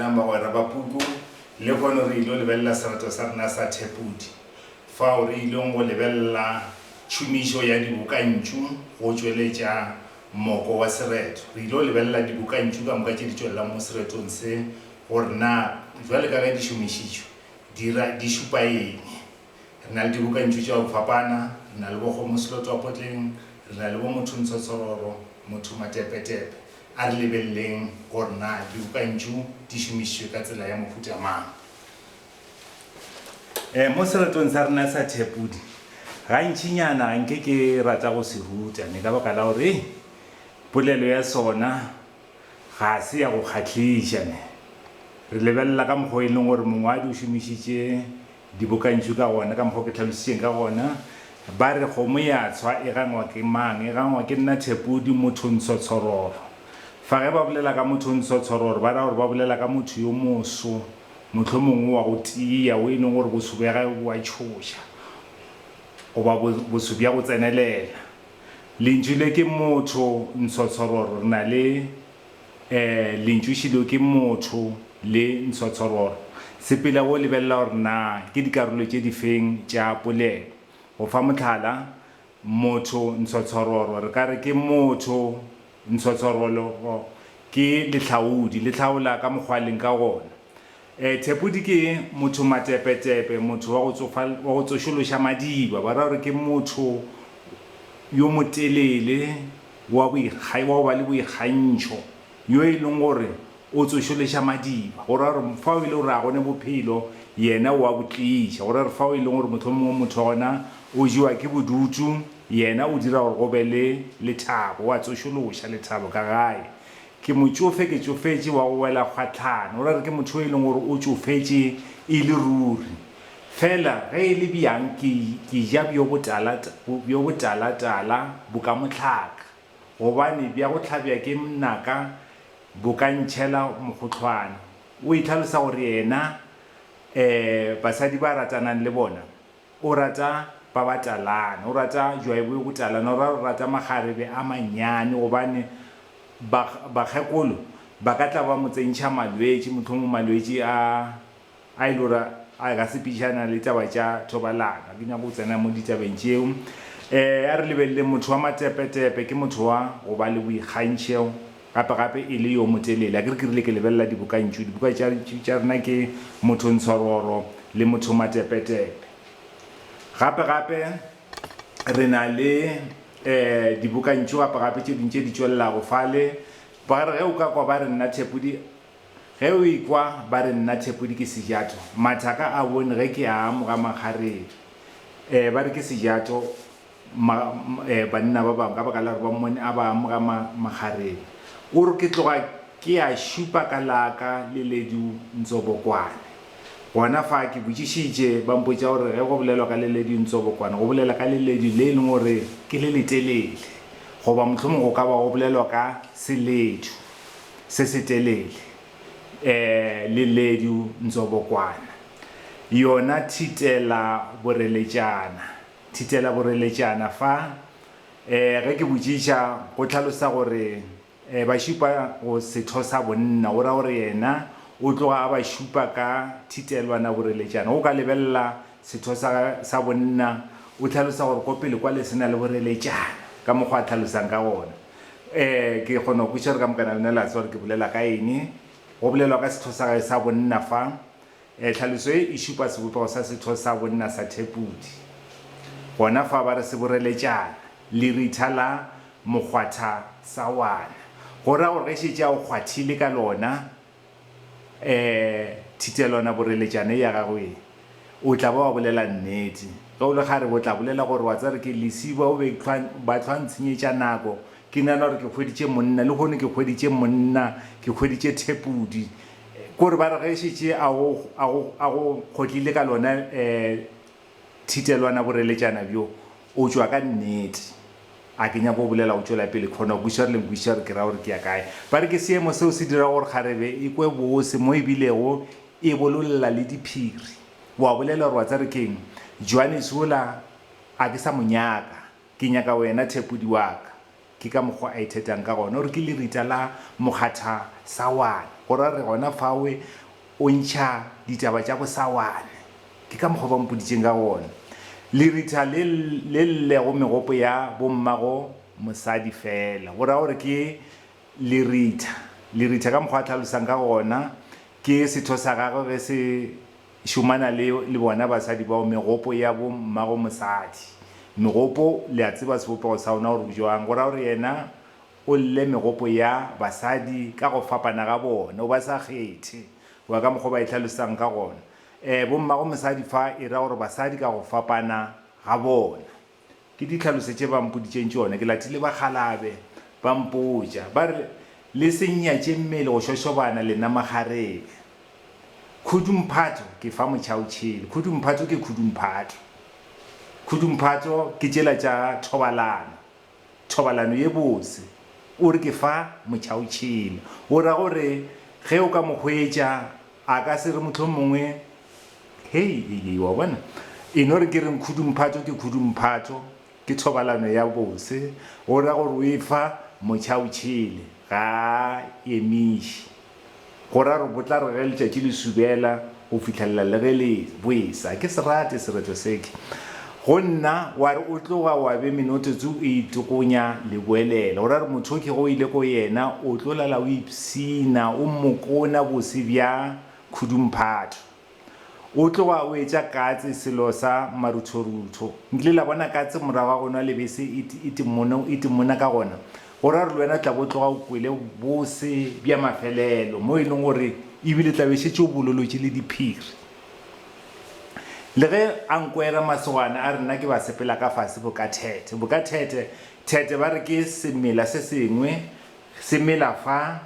Na bagwera ba puku lehono re il'o lebelela serato sa rena sa thepudi fao re il'ong go lebelela tšhomišo ya dibokantšu go tšweletša moko wa sereto. Re il'o lebelela dibokantšu ka moka tše di tšwelelang mo seretong se gore na bjale ka ge di šomišitšwe di ra di šupa eng. Re na le dibokantšu tša go fapana, re na le bo Kgomo Selotwapotleng, re na le bo Motho Ntshotshororo, Motho Matepetepe. A re lebeleleng gore na dibokantšu di šomišitšwe ka tsela ya mohuta mang. E, mo seretong sa rena sa Thepudi, gantšinyana nke ke rata go se ruta ne ka baka la gore polelo ya sona ga se ya go kgahliša. Ne re lebelela ka mokgwa e leng gore mongwadi o šomišitše Dibokantšhu ka gona, ka mokgwa o ke tlhalositšeng ka gona, ba re kgomo ya tshwa e gangwa ke mang? E gangwa ke nna Thepodi Mothontsho Tshororo. Fa ge ba bolela ka Mothontsho Tshororo ba ra gore ba bolela ka motho yo moso, mohlomongwe wa go tiya, wo e leng gore boso bja gagwe bo a tšhoša goba boso bja go tsenelela. Lentšu le ke motho ntsho tshororo re na le Ee, lentšu šilo ke motho le ntshotshororo. Sepela o lebelela gore na ke dikarolo tše difeng tša polelo. Go fa mohlala, motho ntshotshororo re ka re ke motho ntshotshororo ke lehlaodi, le hlaola ka mokgwa a leng ka gona. E, Thepodi ke motho matepetepe, motho wa go tsofa, wa go tsošološa madiba. Ba ra gore ke motho yo motelele, wa boikga, wa go ba le boikgantšho, yo e leng gore o tsošološa madiba. Go ra gore fao e le gore a gone bophelo, yena o a bo tliša. Go ra gore fao e leng gore mohlomongwe motho gona o jewa ke bodutu, yena o dira gore go be le lethabo, o a tsošološa lethabo ka gae. Ke motšofe, ke tšofetše wa go wela kgwahlano. O ra re ke motho yo e leng gore o tšofetše e le ruri. Fela ge e le bjang ke, ke ja bjo botala, bjo botala-tala bo ka mohlaka, gobane bja go hlabja ke mnaka bo ka ntšhela mokgohlwane. O itlhalosa gore yena, um basadi ba ratanang le bona O rata ba ba talana, o rata jwaibo yo go talana, o ra o rata makgarebe a mannyane gobane ba bakgekolo ba ka tla ba mo tsentšha malwetši, mohlomong malwetši a a e le gore a ka sepišana le taba tša thobalano. Ga ke nyake go tsena mo ditabeng tšeo. Um a re lebeleleng motho wa matepetepe ke motho wa go ba le boikgantšheo. Gape gape e le yo motelele. Akere ke rile ke lebelela dibokantšu. Dibuka tša, tša rena ke Mothontswaroro le Mothomatepetepe. Gape gape re na le eh dibokantšu gape gape tše ding tše di tšwelelago fale. Ba re ge o ka kwa ba re nna Thepodi, ge o ekwa ba re nna Thepodi ke Sejato, mathaka a bone ge ke a amoga makgarebe. Eh ba re ke Sejato Ma, eh, banna ba bangwe ka baka la gore ba mmone a ba amoga ma, magareng. O re, Ke tloga ke ya šupa ka laka le ledu ntsobokwane. Gona fa ke botšišitše, ba mpotša gore ge go bolelwa ka le ledu ntsobokwane, go bolela ka le ledu le e leng gore ke le letelele. Goba mohlomongwe go ka ba go bolelwa ka seledu se setelele. Eh, le ledu ntsobokwana. Yona thitela boreletšana. Thitela boreletšana fa. E, ge ke botšiša, go hlalosa gore e, ba šupa go setho sa bonna, o ra gore yena o tloga a ba šupa ka thitelwana boreletšana. Go ka lebelela setho sa, sa bonna, o hlalosa gore ko pele kwale se na le boreletšana, ka mokgwa a hlalosang ka gona. E, ke kgona go kwešiša gore ka mokana lena la tseba gore ke bolela ka eng. Go bolelwa ka setho sa gage sa bonna fa. Tlhaloso ye e šupa sebopego sa setho sa bonna sa thepudi. Gona fa ba re seboreletšana, leritha la mokgwatha sa wana. Go ra gore ge šetše a o kgwathile ka lona thitelwanaboreletšana ye ya gago ye, o tla ba wa bolela nnete. Ge o le kgarebe o tla bolela gore, Wa tseba re ke lesiba o be ba hlwa ntshenyetša nako, ke nagana gore ke hweditše monna, lehono ke hweditše monna, ke hweditše thepudi. Ko re ba re ge e šetše a go kgotlile ka lona thitelwana boreletšana bjo, o tšwa ka nnete. A ke nyake go bolela go tšwela pele, khona kwiša re le nkwiša re ke ra gore ke ya kae. Ba re ke seemo seo se dirago gore kgarebe e kwe bose mo e bilego e bololela le diphiri. O a bolela gore wa tsa re keng, Johannes wola a ke sa mo nyaka, ke nyaka wena thepodi wa ka. Ke ka mokgwa a ithetang ka gona gore ke lerita la mokgatha sawane, go ra re gona fawe o ntšha ditaba tša bosawane. Ke ka mokgwa ba mpoditšeng ka gona. Lerita le le llego megopo ya bommago mosadi fela, go ra gore ke lerita. Lerita ka mokgwa a hlalosang ka gona ke setho sa gagwe ge se. Šomana le, le bona basadi bao, megopo ya bo mmago mosadi. Megopo, le a tseba sebopego sa ona gore bjang. Go ra gore Yena O lle megopo ya basadi ka go fapana ga bona. O ba sa kgethe. Goba ka mokgwa o ba e hlalosang ka gona. E, bo mmago mosadi fa e ra gore basadi ka go fapana ga bona. Ke di tlhalose tše ba mpoditšeng tšona, ke latile bakgalabe ba mpotša ba re, Le se nnyatše mmele go šošobana lena makgarebe. Khudu Mphato ke fa motšhaotšhele, Khudu Mphato ke Khudu Mphato. Khudu Mphato ke tšela tša thobalano, thobalano ye bose. O re ke fa motšhaotšhele, o ra gore ge o ka mo hwetša A ka se re mohlomongwe, Hei, hei, hei, wa bona? E no re ke reng khudumphatšo ke khudumphatšo, ke thobalano ya bose, go ra gore o e fa mocha o tšhele, ga a emiše. Go ra gore botla re ge letšatši le subela go fihlelela le ge le bwesa. A ke se rate sereto seke. Go nna, wa re o tloga wa be minotsotso o itokonya le boelela. O ra re mothoki ge o ile ko yena, o tlo lala o ipshina, o mmokona bose bja khudumphatho. O tloga o etša katse selo sa maruthorutho. Nkile la bona katse morago ga go nwa lebese e timona ka gona? Go ra gore le wena o tla bo o tloga o kwele bose bja mafelelo, mo e leng gore e bile tla be e šetše o bololotše le diphiri. Le ge a nkwera masogana a re nna ke ba sepela ka fase bokathethe. Bokathethe, thethe ba re ke semela se sengwe se mela fa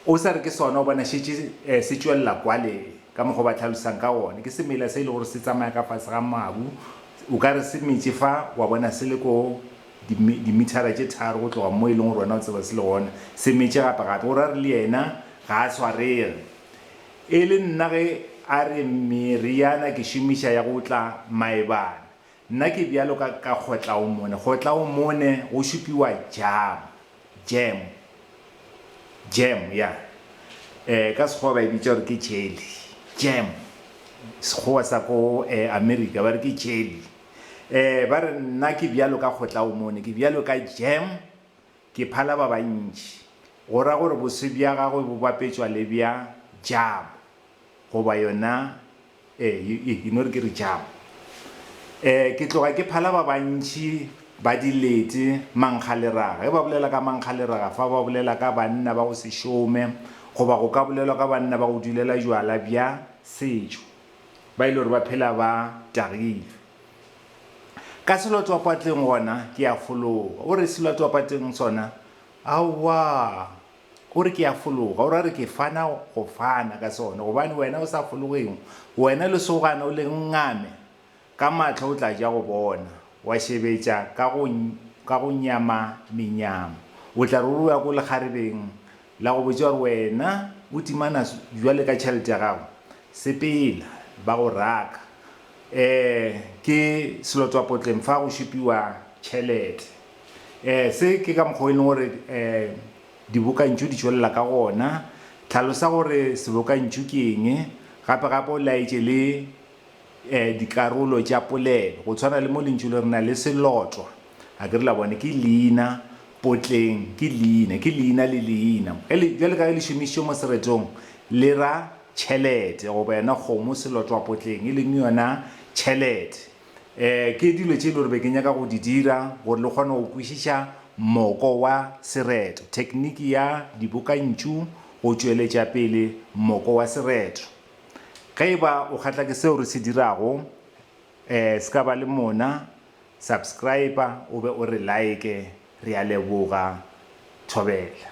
o sa re ke sona o bona šetše se tšwelela kwale ka mokgwa o ba tlhalosang ka gone. Ke semela se e le gore se tsamaya ka fase ga mabu, o ka re se metše fa wa bona se le ko dimithara tše tharo go tloga mo e leng gore wena o tseba se le gona, se metše gape-gape. O ra re le yena ga a swarege. E le nna ge a re meriana ke šomiša ya go tla maebana, nna ke bjalo ka ka kgotlaomone. Kgotlaomone go šupiwa jam, jam, jam, ya, eh, ka Sekgowa ba e bitša gore ke jelly, jam, Sekgowa sa ko Amerika ba re ke jelly. Eh, ba re nna ke bjalo ka kgotlaomone, ke bjalo ka jam. Ke phala ba bantši, go ra gore boswi bja gagwe bo bapetšwa le bja Jabo, goba yona, ee, you, you know, re ke re Jabo. Ee, ke tloga ke phala ba bantši ba dilete, mankgaleraga. Ge ba bolela ka mankgaleraga fa, ba bolela ka banna ba go se šome, goba go ka bolelwa ka banna ba go dulela jwala bja setšo, ba e le gore ba phela ba tagilwe. Ka selotwapatleng gona ke a fologa. O re, Selotwapatleng sona? Aowa. O re, Ke a fologa. O ra re, Ke fana go fana ka sona, gobane wena o sa fologeng. Wena lesogana o le ngame ka mahlo o tla ja go bona, wa šebetša ka go, ka go nyama menyamo. O tla re o re o ya ko lekgarebeng La go botša gore wena o timana bjale ka tšhelete ya gago, sepela, ba go raka. Ee, ke selotwapotleng fa go šupiwa tšhelete. Ee, se ke ka mokgwa o e leng gore ee dibokantšu di tšwelela ka gona. Tlhalosa gore sebokantšu ke eng, gape-gape o laetše le dikarolo tša polelo, go tshwana le mo lentšu le re na le selotwa, a ke re la bona, ke leina, potleng, ke leina, ke leina le leina. Bjale ka ge le šomišitšwe mo seretong, le ra tšhelete goba yona kgomo, selotwa, potleng, e leng yona tšhelete. Ke dilo tše e le gore be ke nyaka go di dira gore le kgone go kwešiša moko wa sereto, thekniki ya dibokantšu go tšweletša pele moko wa sereto. Ge e ba o kgahlwa ke seo re se dirago, ee, se ka ba le mona, subscriber o be o re like. Re a leboga. Thobela.